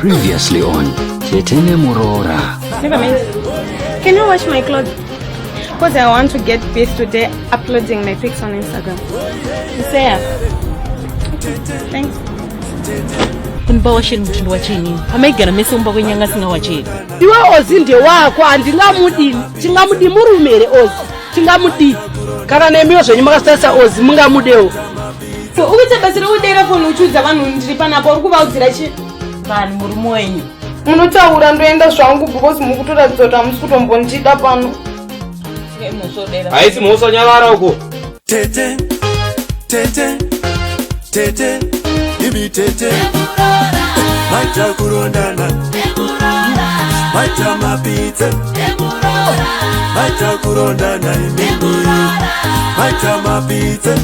Previously on Tete Nemuroora. Never mind. Can you wash my clothes? Because I want to get busy today uploading my pics on Instagram. Sarah. Thanks. kumba washeni kuti ndiwachenini amaigara mese kumba kwenyanga asingawacheni iwe ozi ndewako handingamudini tingamudi murume here ozi tingamudii kana nemiwo zvenyu makasitarisa ozi mungamudewo so ukuita basa rekudeira foni uchiudza vanhu ndiri panapo uri kuvaudzira chi vanhu murume wenyu munotaura ndoenda zvangu because mukutoratidza kuti hamusi kutombondida pano haisi mhosva nyavara uko tete tete tete imi tete maita kurondana maita mapitse maita kurondana imi maita mapitse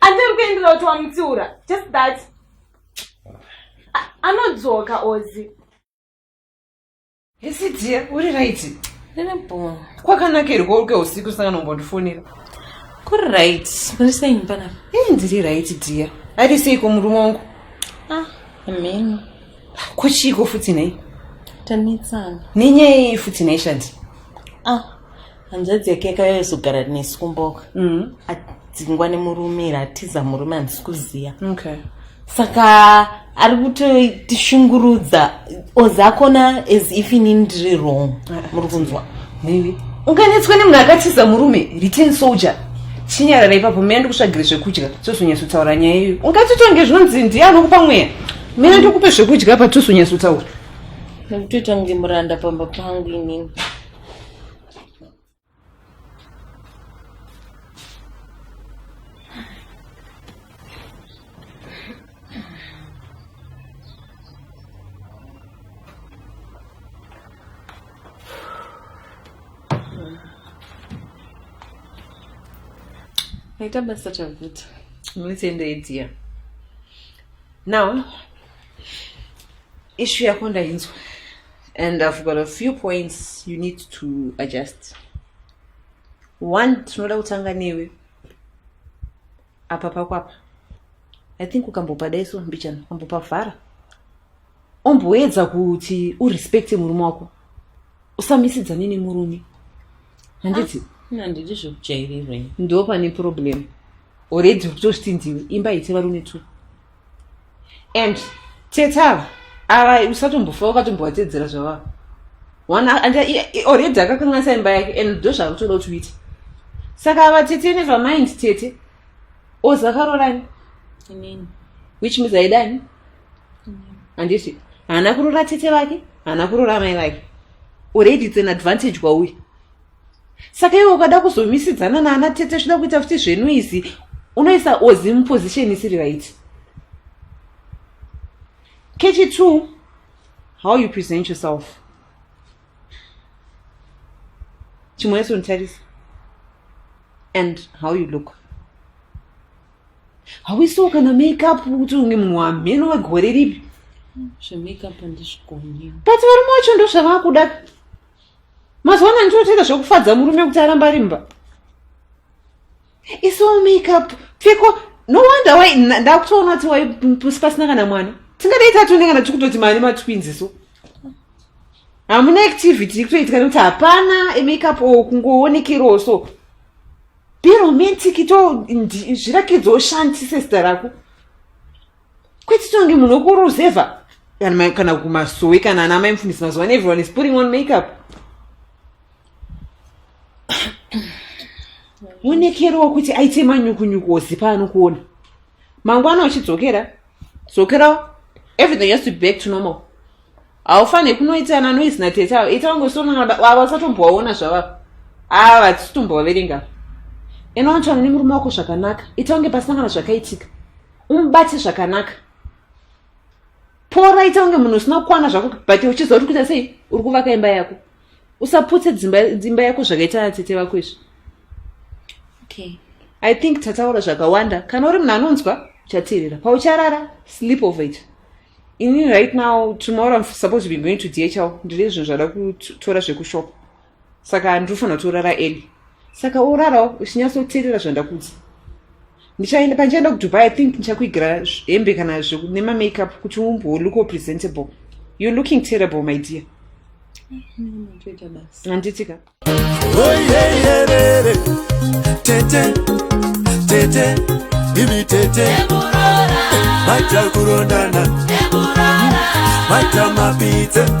andiri kuendera kuti wamutsiura just that anodzoka ozi hesi dia uri right ndinebhoo kwakanaka iri kouke usiku sangana umbondifonera kuri right muri sei mpanapa ee ndiri right dia ari seiko murume wangu ah amheno ko chiiko futi nhai tanetsana nenyaya yei futi nhai shandi ah hanzvadzi yake yakayozogara nesu kumboka mm. adzingwa nemurume iri atiza murume handisi kuziva okay. saka ari kutotishungurudza ozakona as if ini ndiri wrong ah, ah. muri kunzwa maybe unganetswa nemunhu akatiza murume return soldier chinyarara ipapo mene ndikutsvagire zvekudya tozonyatsotaura nyaya iyo ungatotonge zvinonzi ndiye anokupa mweya mene ndokupe zvekudya pa tozonyatsotaura nekutoita kunge muranda pamba pangu inini Naita basa Tavuta. Let's end it here. Now, issue yako ndainzwa. and i've got a few points you need to adjust one tinoda kutanga newe apa pakwapa i think ukambopa daiso mbichana ukambopa vhara omboedza kuti urespecte murume wako usamisidzane nemurume handiti ah, handiti zvekujairirei ndo pane problem already kutozviti ndiwe imba ite varume two and tete ava ava usatombofa wakatombovatedzera zvavava one already akakanganisa imba yake and ndo zvakutoda kuti uite saka ava tete never mind tete ozakaroorani which means aidani handiti haana kurora tete vake haana kurora amai vake already it's an advantage kwauye saka iwe ukada kuzomisidzana naana tete zvida kuita futi zvenu izi unoisa ozi muposition isiri right kechi two how you present yourself chimwe yeso nditarisa and how you look hauisiwo kana makeup kuti unge munhu wamheno wegore ripi zvemakeup handizvigoni but varume wacho ndozvavakuda mazuva ano ndinotoita zvekufadza murume kuti aramba ari mba iso makeup pfeko no wonder why ndakutoona kuti wai pasina kana mwana tingadai tatone kana tiri kutoti mane matwins so hamuna activity ikutoitika nekuti hapana emakeup o kungoonekerawo so be romantic to zvirakidza ushandise zita rako kwete tonge munhu wekuruzevha kana kumasowe kana ana mai mfundisi mazuva ano everyone is putting on makeup wonekerowo kuti aite manyukunyuku ozipa anokuona mangwana uchidzokera dzokerawo everything has to be back to normal haufanire kunoita ana noise natete avo ita wangosonava usatombowaona zvavavo ava vatisitombovaverenga inowantsvana nemurume wako zvakanaka ita wange pasina kana zvakaitika umubate zvakanaka pora ita kunge munhu usina kukwana zvako but uchiziva kuti kuita sei uri kuvaka imba yako usaputse dzimba yako zvakaita tete vako izvi okay. i think tataura zvakawanda kana uri munhu anonzwa uchateerera paucharara sleep over it ini right now tomorrow im supposed to be going to dhl ndine zvinhu zvada kutora zvekushopa saka handiri kufanira kuti urara eli saka urarawo uchinyatsoteerera zvandakudza ndichaenda pandichaenda kudubai i think ndichakuigira hembe kana nemamakeup kuti umbowo look presentable you're looking terrible my dear handiti ka tete tete ivi tete maita kurondana maita mapitse